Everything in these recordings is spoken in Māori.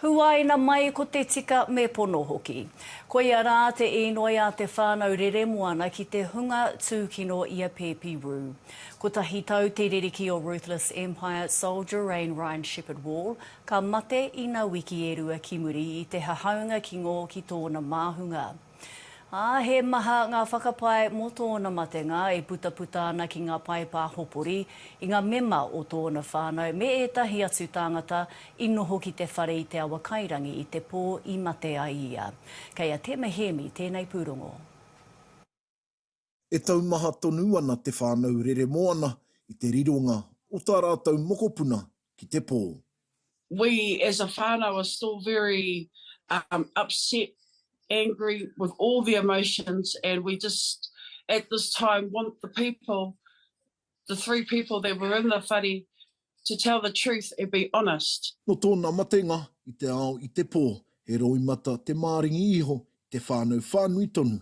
Huaina mai ko te tika me pono hoki. Koia rā te īnoi a te whānau Reremoana ki te hunga tūkino i a Pēpi Rū. Kotahi tau te ririki o Ruthless Empire Soldier Rain Ryan Shepherd Wall, ka mate ina wiki e rua ki muri i te hahaunga ki ngō ki tōna māhunga. Ā, he maha ngā whakapae mō tōna matenga e putaputa ana ki ngā paepa hopori, i ngā mema o tōna whānau me ētahi atu tāngata i noho ki te whare i Te Awakairangi i te pō i mate ai ia. Kei a Tema Hēmi tēnei pūrongo. E taumaha tonu ana te whānau Reremoana i te rironga o tā rātou mokopuna ki te pō. We as a whānau are still very um upset, angry with all the emotions and we just at this time want the people, the three people that were in the whare to tell the truth and be honest. Nō tōna matenga i te ao i te pō, he roimata te māringi iho i te whānau whānui tonu.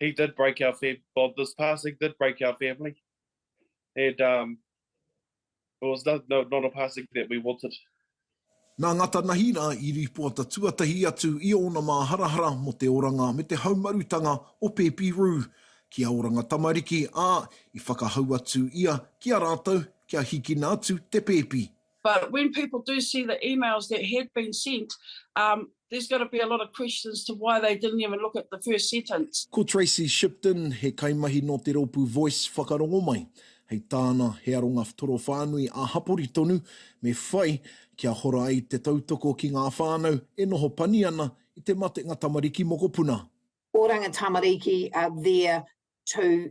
he did break our family. Well, this passing did break our family, and um, it was not, no, not a passing that we wanted. Nā Ngata Nahira i rīpoata tuatahi atu i ōna māharahara mō te oranga me te haumarutanga o Pēpi Rū ki a Oranga Tamariki, ā, i whakahau atu ia ki a rātou kia hikina atu te pēpi. But when people do see the emails that had been sent, um, there's got to be a lot of questions to why they didn't even look at the first sentence. Ko Tracy Shipton, he kaimahi nō te rōpū Voice whakarongo mai. Hei tāna, he aronga torowhānui ā-hapori tonu me whai kia hora ai te tautoko ki ngā whānau e noho pani ana i te matenga tamariki mokopuna. Oranga tamariki are there to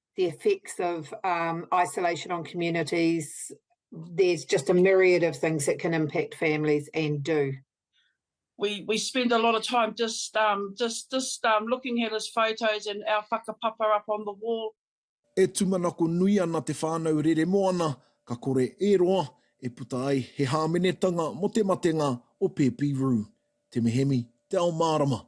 the effects of um, isolation on communities. There's just a myriad of things that can impact families and do. We, we spend a lot of time just um, just just um, looking at his photos and our whakapapa up on the wall. E tumanako nui ana te whānau rere moana, ka kore e roa e puta ai he hāmenetanga mo te matenga o Pepi Rue. Te mehemi, te ao mārama,